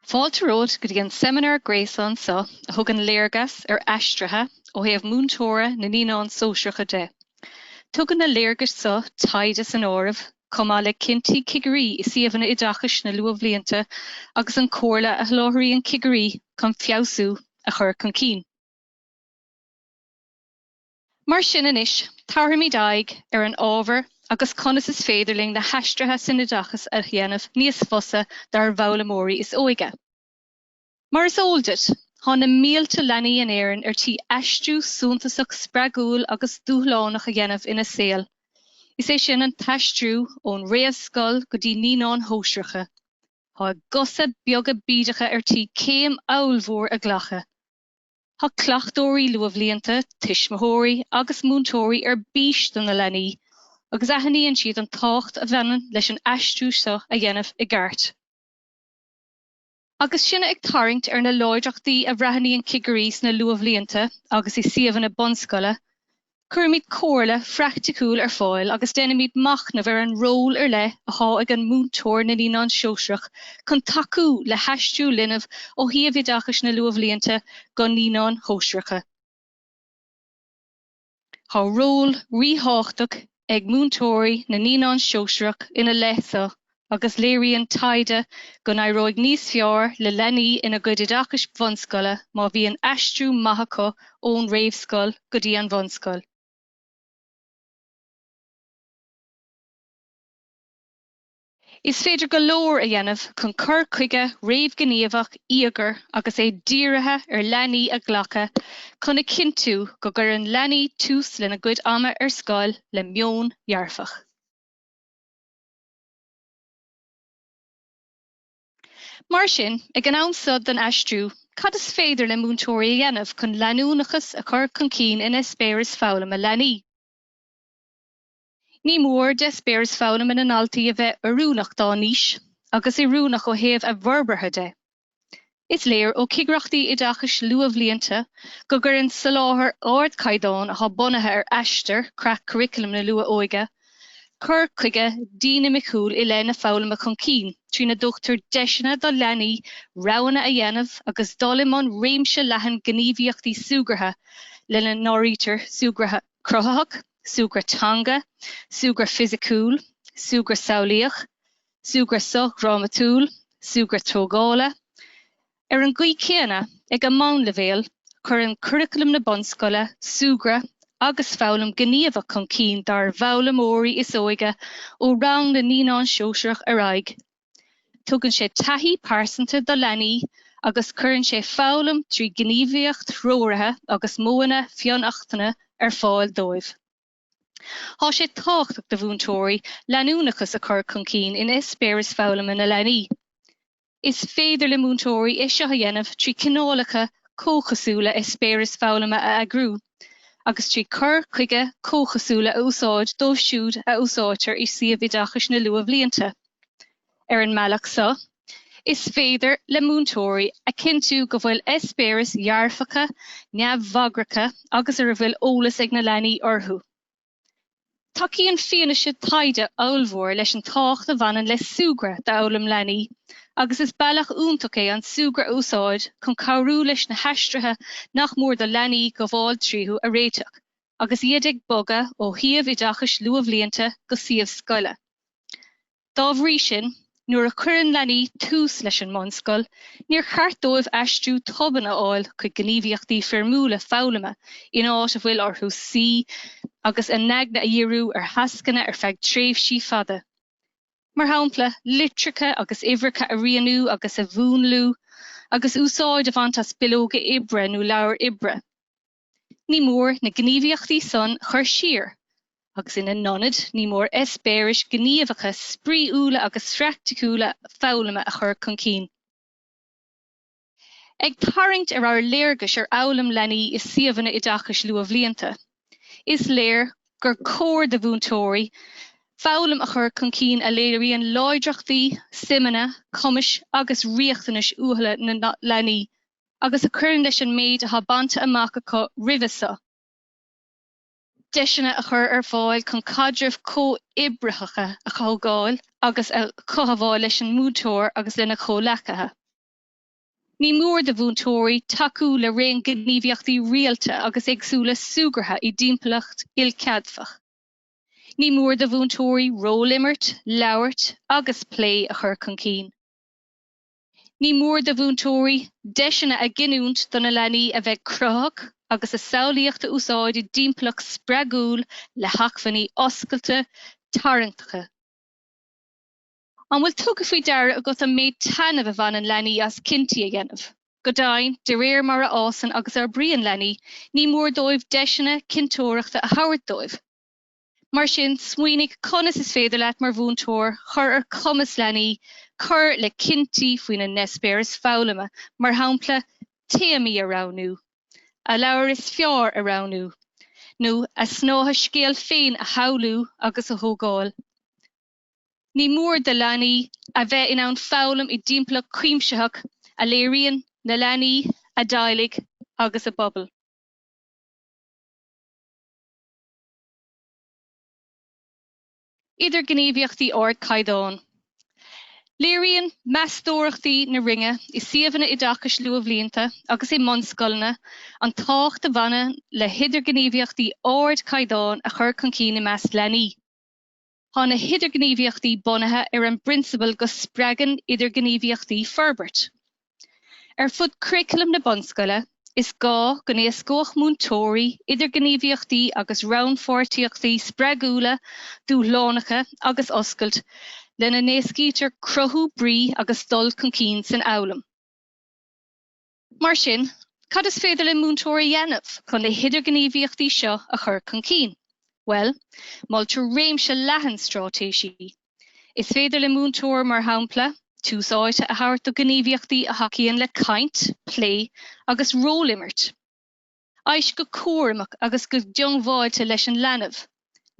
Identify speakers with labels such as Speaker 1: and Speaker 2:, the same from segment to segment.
Speaker 1: Fáilte romhat go dtí an seimineár gréasáin seo a thugann léargas ar aistrithe ó thaobh múinteora na naíonán sóisearacha de. Tugann na léargais seo, taighde san áireamh, chomh maith le cinntí cigirí i suíomhanna oideachais na luathbhlianta agus an chomhairle a sholáthraíonn cigirí chun feabhsú a chur chun cinn. Mar sin anois, tabharfaimid aghaidh ar an ábhar agus conas is féidir linn na haistrithe san oideachas a dhéanamh níos fusa dár bhfoghlaimeoirí is óige. Mar is eol duit, tá na mílte leanaí in Éirinn ar tí aistriú suntasach spreagúil agus dúshlánach a dhéanamh ina saol, is é sin an t-aistriú ón réamhscoil go dtí naíonáin shóisearacha. Tá a gcosa beaga bídeacha ar tí céim ollmhór a ghlacadh. Tá cleachtóirí luathbhlianta, tuismitheoirí agus múinteoirí ar bís do na leanaí agus aithníonn siad an tábhacht a bhaineann leis an aistriú seo a dhéanamh i gceart. Agus sinne ag tarraingt ar na láidreachtaí a bhreathnaíonn cigirí sna luathbhlianta agus i suíomhanna bunscoile, cuirimid comhairle phraiticiúil ar fáil agus déanaimid machnamh ar an ról ar leith atá ag an múinteoir na Naíonán Sóisearach chun tacú le haistriú linbh ó shuíomh oideachais na luathbhlianta go Naíonáin Shóisearacha. Tá ról ríthábhachtach ag múinteoirí na naíonán sóisearach ina leith seo agus léiríonn taighde go n-éireoidh níos fearr le leanaí ina gcuid oideachais bhunscoile má bhíonn aistriú maith acu ón réamhscoil go dtí an bhunscoil. Is féidir go leor a dhéanamh chun cur chuige réamhghníomhach íogair agus é dírithe ar leanaí a ghlacadh chun a chinntiú go gcuireann leanaí tús lena gcuid ama ar scoil le meon dhearfach. Mar sin, ag an am seo den aistriú, cad is féidir le múinteoirí a dhéanamh chun leanúnachas a chur chun cinn in eispéireas foghlama leanaí? Ní mór d'eispéireas foghlama na ndaltaí a bheith oiriúnach dá n-aois agus oiriúnach ó thaobh a bhforbartha de. Is léir ó chigireachtaí oideachais luathbhlianta go gcuireann soláthar ardchaighdeáin atá bunaithe ar Aistear, creat curaclaim na luath-óige, cur chuige dinimiciúil i leith na foghlama chun cinn trína dtugtar deiseanna do leanaí roghanna a dhéanamh agus dul i mbun réimse leathan gníomhaíochtaí súgartha lena n-áirítear súgradh cruthaitheach, súgradh teanga, súgradh fisiciúil, súgradh samhlaíoch, súgradh sochdhrámatúil, súgradh tógála. Ar an gcaoi chéanna, ag an mbunleibhéal, cuireann curaculam na bunscoile súgradh agus foghlaim ghníomhach chun cinn dár bhfoghlaimeoirí is óige ó rang na naíonán sóisearach ar aghaidh. Tugann sé taithí pearsanta do leanaí agus cuireann sé foghlaim trí ghníomhaíocht threoraithe agus modhanna fionnachtana ar fáil dóibh. Tá sé tábhachtach do mhúinteoirí leanúnachas a chur chun cinn in eispéiris foghlama na leanaí. Is féidir le múinteoirí é seo a dhéanamh trí chineálacha comhchosúla eispéiris foghlama a eagrú. agus trí chur chuige comhchosúla a úsáid dóibh siúd a úsáidtear i suíomh oideachais na luathbhlianta. Ar an mbealach seo, is féidir le múinteoirí a chinntiú go bhfuil eispéiris dhearfacha, neamhbhagracha agus ar a bhfuil eolas ag na leanaí orthu. Tacaíonn fianaise taighde ollmhór leis an tábhacht a bhaineann le súgradh d'fhoghlaim leanaí agus is bealach iontach é an súgradh a úsáid chun cabhrú leis na haistrithe nach mór do leanaí gabháil tríothu a réiteach agus iad ag bogadh ó shuíomh oideachais luathbhlianta go suíomh scoile. Dá bhrí sin, nuair a chuireann leanaí tús leis an mbunscoil, níor cheart dóibh aistriú tobann a fháil chuig gníomhaíochtaí foirmiúla foghlama in áit a bhfuil orthu suí agus a n-aigne a dhíriú ar thascanna ar feadh tréimhsí fada, mar shampla, litreacha agus uimhreacha a rianú agus a mhúnlú, agus úsáid a bhaint as bileoga oibre nó leabhar oibre. ní mór na gníomhaíochtaí san a chur siar agus ina n-ionad ní mór eispéiris ghníomhacha spraíúla agus phraicticiúla foghlama a chur chun cinn. Ag tarraingt ar ár léargas ar fhoghlaim leanaí i suíomhanna oideachais luathbhlianta, is léir gur cóir do mhúinteoirí foghlaim a chur chun cinn a léiríonn láidreachtaí, suimeanna, cumais agus riachtanais uathúla na leanaí. agus a chuireann leis an méid atá bainte amach acu roimhe seo deiseanna a chur ar fáil chun caidrimh chomhoibritheacha a thógáil agus a chothabháil leis an múinteoir agus lena gcomhleacaithe. Ní mór do mhúinteoirí tacú le raon gníomhaíochtaí rialta agus éagsúla súgartha i dtimpeallacht ilcheadfach. Ní mór do mhúinteoirí rólimirt, labhairt agus plé a chur chun cinn. Ní mór do mhúinteoirí deiseanna a ghiniúint do na leanaí a bheith cruthaitheach agus a samhlaíocht a úsáid i dtimpeallacht spreagúil le hacmhainní oscailte, tarraingteacha. An bhfuil tugtha faoi deara agat an méid taitnimh a bhaineann leanaí as cinntí a dhéanamh? Go deimhin, de réir mar a fhásann agus a fhorbraíonn leanaí, ní mór dóibh deiseanna cinnteoireachta a thabhairt dóibh. Mar sin, smaoinigh conas is féidir leat mar mhúinteoir cur ar chumas leanaí cur le cinntí faoina n-eispéireas foghlama, mar shampla, téamaí a roghnú, a leabhar is fearr a roghnú, nó a snáithe scéil féin a shamhlú agus a thógáil. Ní mór do leanaí a bheith in ann foghlaim i dtimpeallacht chuimsitheach a léiríonn na leanaí, a dteaghlaigh agus a bpobal. idirghníomhaíochtaí ardchaighdeáin. Léiríonn meastóireachtaí na Roinne i suíomhanna oideachais luathbhlianta agus i mbunscoileanna an tábhacht a bhaineann le hidirghníomhaíochtaí ardchaighdeáin a chur chun cinn i measc leanaí. Tá na hidirghníomhaíochtaí bunaithe ar an bprionsabal go spreagann idirghníomhaíochtaí forbairt. Ar fud curaclam na bunscoile, is gá go n-éascódh múinteoirí idirghníomhaíochtaí agus rannpháirtíochtaí spreagúla, dúshlánacha agus oscailte, lena n-éascaítear cruthú brí agus dul chun cinn san fhoghlaim. Mar sin, cad is féidir le múinteoir a dhéanamh chun na hidirghníomhaíochtaí seo a chur chun cinn? Bhuel, moltar réimse leathan straitéisí. Is féidir le múinteoir, mar shampla, tús áite a thabhairt do ghníomhaíochtaí a thacaíonn le caint, plé agus ról-imirt. Éist go cúramach agus go diongbháilte leis an leanbh.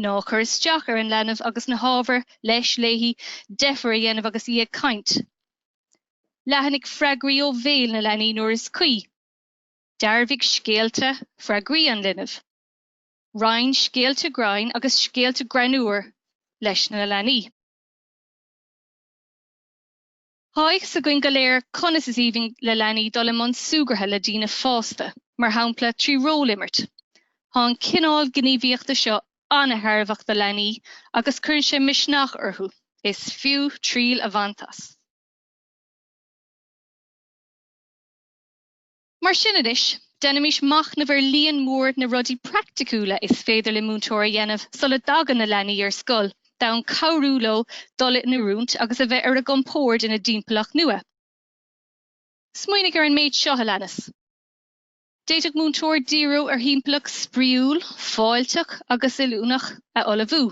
Speaker 1: Ná cuir isteach ar an leanbh agus ná tabhair, leis, léi, deifir a dhéanamh agus í ag caint. Leathanaigh freagraí ó bhéal na leanaí nuair is cuí. Dearbhaigh scéalta, freagraí an linbh. Roinn scéalta grinn agus scéalta greannmhar leis na leanaí. Tá a fhios againn go léir conas is aoibhinn le leanaí dul i mbun súgartha le daoine fásta, mar shampla trí ról-imirt. Tá an cineál gníomhaíochta seo an-tairbheach do leanaí agus cuireann sé misneach orthu, is fiú triail a bhaint as. Mar sin anois, déanaimis machnamh ar líon mór na rudaí praiticiúla is féidir le múinteoir a dhéanamh sula dtagann na leanaí ar scoil d'fhonn cabhrú leo dul in oiriúint agus a bheith ar a gcompord ina dtimpeallacht nua. Smaoinigh ar an méid seo a leanas. D'fhéadfadh múinteoir díriú ar thimpeallacht spraíúil, fáilteach agus oiriúnach a ullmhú.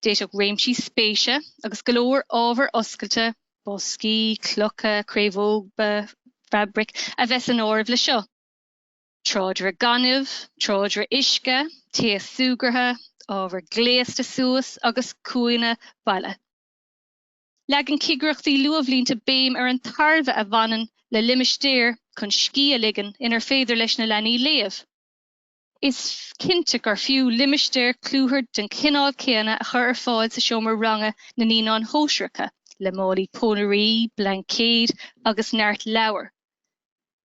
Speaker 1: D'fhéadfadh réimsí spéise agus go leor ábhar oscailte, boscaí, clocha, craobhóga, fabraic, a bheith san áireamh le seo, tráidire gainimh, tráidire uisce, taos súgartha, ábhar gléasta suas agus cúinne baile. Leagann cigireachtaí luathbhlianta béim ar an tairbhe a bhaineann le limistéar chun scíth a ligean inar féidir leis na leanaí léamh. Is cinnte gur fiú limistéar clúthar den chineál céanna a chur ar fáil sa seomra ranga na Naíonán Shóisearacha, le málaí pónairí, blaincéid agus neart leabhar.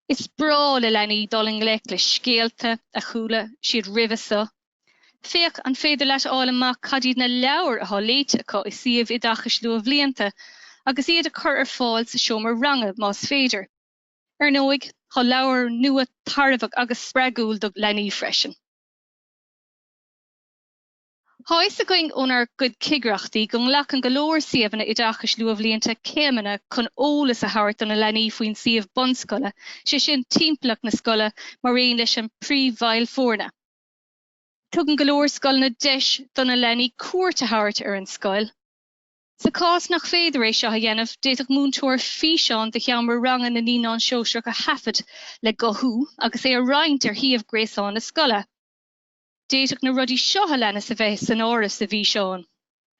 Speaker 1: Is breá le leanaí dul i ngleic le scéalta a chuala siad roimhe seo. Féach an féidir leat a fháil amach cad iad na leabhair atá léite acu i suíomh oideachais luathbhlianta agus iad a chur ar fáil sa seomra ranga más féidir. Ar ndóigh, tá leabhar nua tairbheach agus spreagúil do leanaí freisin. Tá a fhios againn ónár gcuid cigireachtaí go nglacann go leor suíomhanna oideachais luathbhlianta céimeanna chun eolas a thabhairt do na leanaí faoin suíomh bunscoile, sé sin, timpeallacht na scoile mar aon leis an príomhbhaill foirne. Tugann go leor scoileanna deis do na leanaí cuairt a thabhairt ar an scoil. Sa chás nach féidir é seo a dhéanamh, d'fhéadfadh múinteoir físeán de sheomra ranga na Naíonán Sóisearach a thaifead le guthú agus é a roinnt ar shuíomh gréasáin na scoile. D'fhéadfadh na rudaí seo a leanas a bheith san áireamh sa bhfíseán.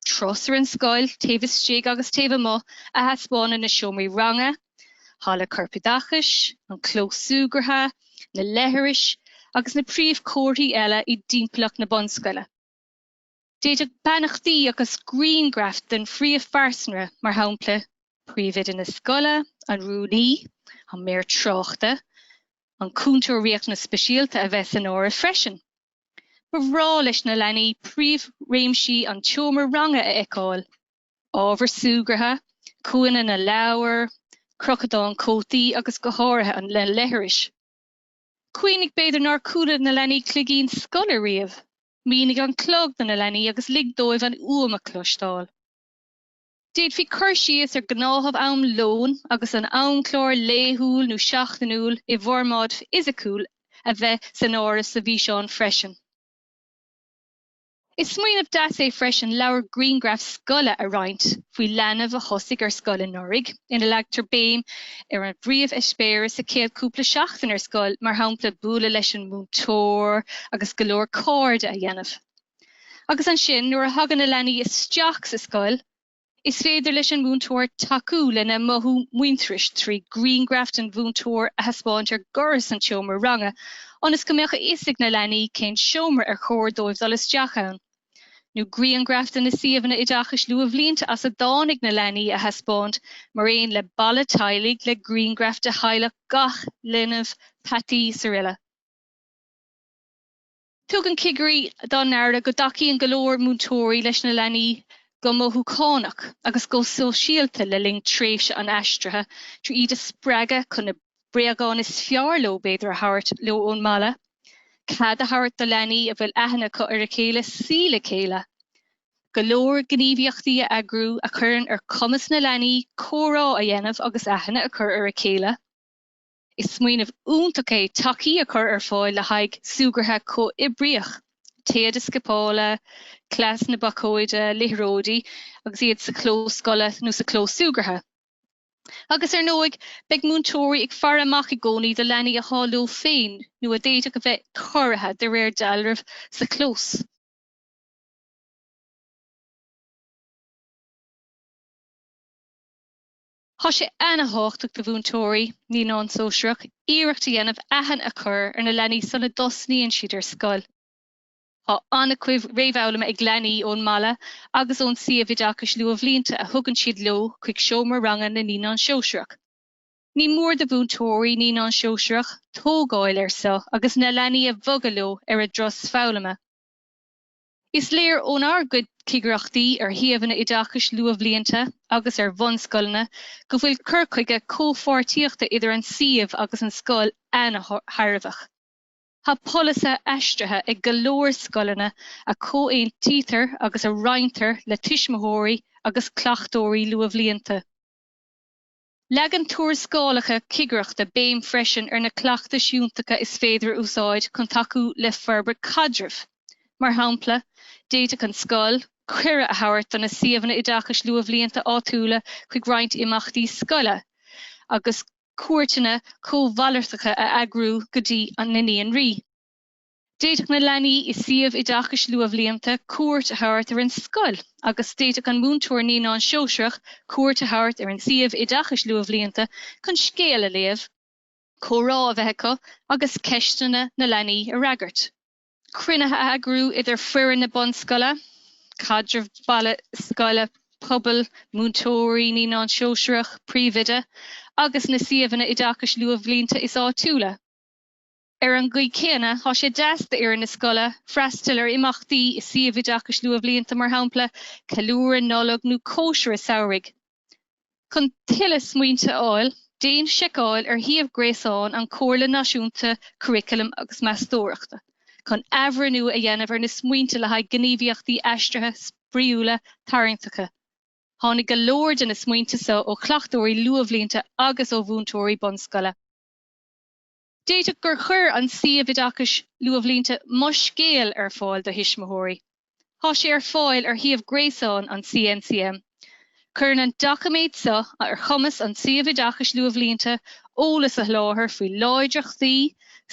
Speaker 1: Turas ar an scoil, taobh istigh agus taobh amuigh, a thaispeánann na seomraí ranga, halla corpoideachais, an clós súgartha, na leithris agus na príomhchomharthaí eile i dtimpeallacht na bunscoile. D'fhéadfadh beannachtaí agus griangraif den phríomhphearsanra, mar shampla, príomhoide na scoile, an rúnaí, an maor tráchta, an cúntóir riachtanas speisialta, a bheith san áireamh freisin. Ba bhreá leis na leanaí príomhréimsí an tseomra ranga a fheiceáil, ábhar súgartha, cúinne na leabhar, crochadán cótaí agus go háirithe an leithris. Cuimhnigh b'fhéidir nár chuala na leanaí cloigín scoile riamh. Mínigh an clog do na leanaí agus lig dóibh an fhuaim a chloisteáil. D'fhéadfaí cur síos ar ghnáthamh am lóin agus an amchlár laethúil nó seachtainiúil i bhformáid fhisiciúil a bheith san áireamh sa bhfíseán freisin. Is smaoineamh deas é freisin leabhar grianghraf scoile a roinnt faoi leanbh a thosaigh ar scoil anuraidh ina leagtar béim ar an bpríomh-eispéiris sa chéad chúpla seachtain ar scoil, mar shampla, bualadh leis an múinteoir agus go leor cairde a dhéanamh. Agus ansin, nuair a thagann na leanaí isteach sa scoil, is féidir leis an múinteoir tacú lena mothú muintearais trí ghrianghraf an mhúinteoir a thaispeáint ar dhoras an tseomra ranga ionas go mbeadh a fhios ag na leanaí cén seomra ar chóir dóibh dul isteach ann. nó grianghraif de na suíomhanna oideachais luathbhlianta as a dtáinig na leanaí a thaispeáint, mar aon le balla teaghlaigh le grianghraif de theaghlach gach linbh, peataí srl. Tugann cigirí dá n-aire go dtacaíonn go leor múinteoirí leis na leanaí go mothúchánach agus go sóisialta le linn tréimhse an aistrithe trí iad a spreagadh chun na bréagáin is fearr leo b'fhéidir a thabhairt leo ón mbaile, cead a thabhairt do leanaí a bhfuil aithne acu ar a chéile suí le chéile, go leor gníomhaíochtaí a eagrú a chuireann ar chumas na leanaí comhrá a dhéanamh agus aithne a chur ar a chéile. Is smaoineamh iontach é tacaí a chur ar fáil le haghaidh súgartha comhoibríoch, téada scipeála, cleas na bacóide, liathróidí agus iad sa chlós scoile nó sa chlós súgartha. Agus, ar ndóigh, beidh múinteoirí ag faire amach i gcónaí do leanaí atá leo féin nó a d'fhéadfadh a bheith corraithe, de réir dealraimh, sa chlós. Tá sé ana-thábhachtach do mhúinteoirí Naíonán Sóisearach iarracht a dhéanamh aithne a chur ar na leanaí sula dtosnaíonn siad ar scoil. Tá an-chuid réamhfhoghlama ag leanaí ón mbaile agus ón suíomh oideachais luathbhlianta a thugann siad leo chuig seomra ranga na Naíonán Sóisearach. Ní mór do mhúinteoirí Naíonán Sóisearach tógáil ar seo agus na leanaí a bhogadh leo ar a dturas foghlama. Is léir ónár gcuid cigireachtaí ar shuíomhanna oideachais luathbhlianta agus ar bhunscoileanna go bhfuil cur chuige comhpháirtíochta idir an suíomh agus an scoil an-thairbheach. Tá polasaithe aistrithe ag go leor scoileanna a chomhaontaítear agus a roinntear le tuismitheoirí agus cleachtóirí luathbhlianta. Leagann tuarascálacha cigireachta béim freisin ar na cleachtais fhiúntacha is féidir a úsáid chun tacú le forbairt caidrimh. Mar shampla, d'fhéadfadh an scoil cuireadh a thabhairt do na Suíomhanna Oideachais Luathbhlianta áitiúla chuig roinnt imeachtaí scoile agus, cuairteanna cómhalartacha a eagrú go dtí an naíonra. D'fhéadfadh na leanaí i suíomh oideachais luathbhlianta cuairt a thabhairt ar an scoil agus d'fhéadfadh an múinteoir naíonán sóisearach cuairt a thabhairt ar an suíomh oideachais luathbhlianta chun scéal a léamh, comhrá a bheith acu agus ceisteanna na leanaí a fhreagairt. Cruinnithe a eagrú idir foireann na bunscoile, caidreamh baile scoile, pobail, múinteoirí Naíonán Sóisearach, Príomhoide agus na suíomhanna oideachais luathbhlianta is áitiúla. Ar an gcaoi céanna, tá sé deas d'fhoireann na scoile freastal ar imeachtaí i suíomh oideachais luathbhlianta, mar shampla, ceiliúradh Nollag nó cóisire samhraidh. Chun tuilleadh smaointe a fháil, déan seiceáil ar shuíomh gréasáin an Chomhairle Náisiúnta Curaclaim agus Meastóireachta chun athbhreithniú a dhéanamh ar na smaointe le haghaidh gníomhaíochtaí aistrithe spraíúla tarraingteacha. Tháinig go leor de na smaointe seo ó chleachtóirí luathbhlianta agus ó mhúinteoirí bunscoile. D'fhéadfadh gur chuir an suíomh oideachais Luathbhlianta Mo Scéal ar fáil do thuismitheoirí. Tá sé ar fáil ar shuíomh gréasáin an CNCM. Cuireann an doiciméad seo ar chumas an tsuímh oideachais luathbhlianta eolas a sholáthar faoi láidreachtaí,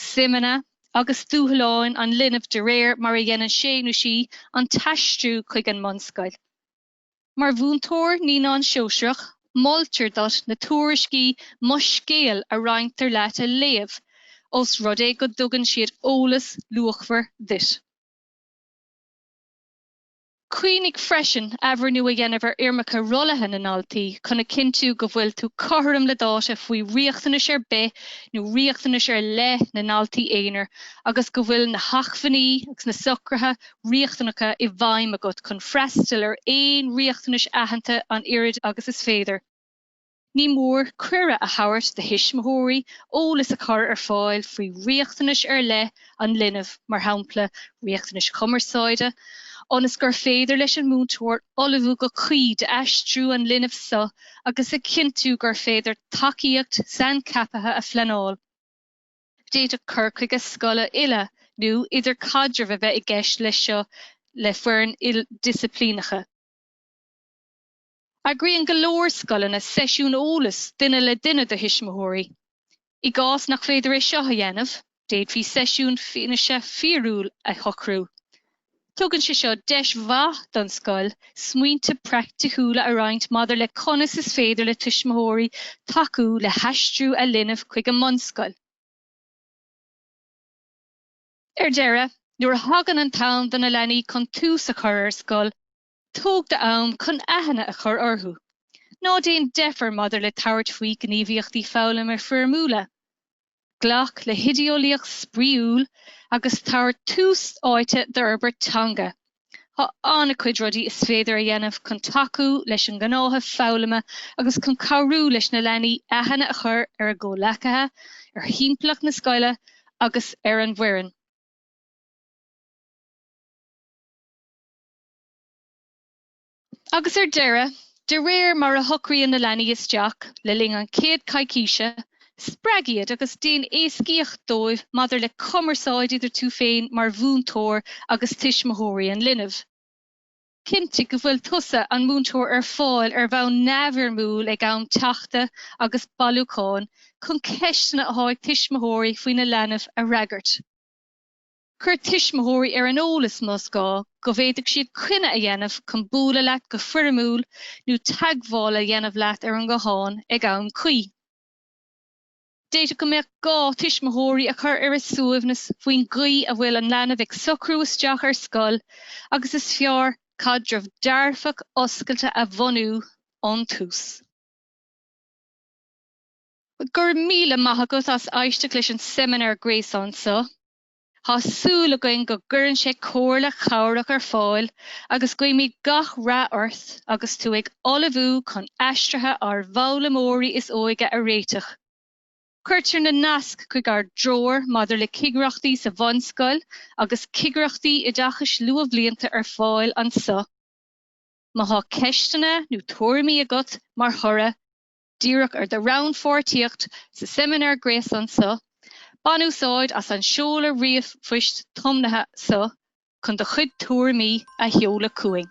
Speaker 1: suimeanna agus dúshláin an linbh de réir mar a dhéanann sé nó sí an t-aistriú chuig an mbunscoil. Mar mhúinteoir naíonán sóisearach, moltar duit na tuairiscí 'Mo Scéal' a roinntear leat a léamh, ós rud é go dtugann siad eolas luachmhar duit. Cuimhnigh freisin athbhreithniú a dhéanamh ar fhoirmeacha rollaithe na ndaltaí chun a chinntiú go bhfuil tú cothrom le dáta faoi riachtanais ar bith nó riachtanais ar leith na ndaltaí aonair agus go bhfuil na hacmhainní agus na socruithe riachtanacha i bhfeidhm agat chun freastal ar aon riachtanais aitheanta an oiread agus is féidir. Ní mór cuireadh a thabhairt do thuismitheoirí eolas a chur ar fáil faoi riachtanais ar leith an linbh, mar shampla, riachtanais cumarsáide, ionas gur féidir leis an múinteoir ullmhú go cuí d'aistriú an linbh seo agus a chinntiú gur féidir tacaíocht saincheaptha a phleanáil. D'fhéadfadh cur chuige scoile uile nó idirchaidreamh a bheith i gceist leis seo le foireann ildisciplíneach. Eagraíonn go leor scoileanna seisiún eolais duine le duine do thuismitheoirí. I gcás nach féidir é seo a dhéanamh, d'fhéadfaí seisiún fianaise fíorúil a shocrú. Tugann sé seo deis mhaith don scoil smaointe praiticiúla a roinnt maidir le conas is féidir le tuismitheoirí tacú le haistriú a linbh chuig an mbunscoil. Ar deireadh, nuair a thagann an t-am do na leanaí chun tús a chur ar scoil, Tóg do am chun aithne a chur orthu. Ná déan deifir maidir le tabhairt faoi ghníomhaíochtaí foghlama foirmiúla. Glac le hoideolaíocht spraíúil agus tabhair tús áite d'fhorbairt teanga. Tá an-chuid rudaí is féidir a dhéanamh chun tacú leis an ngnáthamh foghlama agus chun cabhrú leis na leanaí aithne a chur ar a gcomhleacaithe, ar thimpeallacht na scoile agus ar an bhfoireann. Agus ar deireadh, de réir mar a shocraíonn na leanaí isteach le linn an chéad choicíse, spreag iad agus déan éascaíocht dóibh maidir le cumarsáid idir tú féin mar mhúinteoir agus tuismitheoirí an linbh. Cinntigh go bhfuil tusa, an múinteoir, ar fáil ar bhonn neamhfhoirmiúil ag am teachta agus bailiúcháin chun ceisteanna athá ag tuismitheoirí faoina leanbh a fhreagairt. Cuir tuismitheoirí ar an eolas, más gá, go bhféadfaidh siad coinne a dhéanamh chun bualadh leat go foirmiúil nó teagmháil a dhéanamh leat ar an nguthán ag am cuí. D'fhéadfadh go mbeadh gá tuismitheoirí a chur ar a suaimhneas faoin gcaoi a bhfuil an leanbh ag socrú isteach ar scoil agus is fearr caidreamh dearfach oscailte a bhunú ón tús. Go raibh míle maith agat as éisteacht leis an seimineár gréasáin so. Thá súil againn go gcuireann sé comhairle chabhrach ar fáil agus guímid gach rath ort agus tú ag ullmhú chun aistrithe ár bhfoghlaimeoirí is óige a réiteach. Cuirtear na naisc chuig ár dtreoir maidir le cigireachtaí sa bhunscoil agus cigireachtaí oideachais luathbhlianta ar fáil anso. Má thá ceisteanna nó tuairimí agat mar thoradh, díreach ar do rannpháirtíocht sa seimineár gréasáin so, bain úsáid as an seoladh ríomhphoist tiomnaithe so chun do chuid tuairimí a sheoladh chugainn.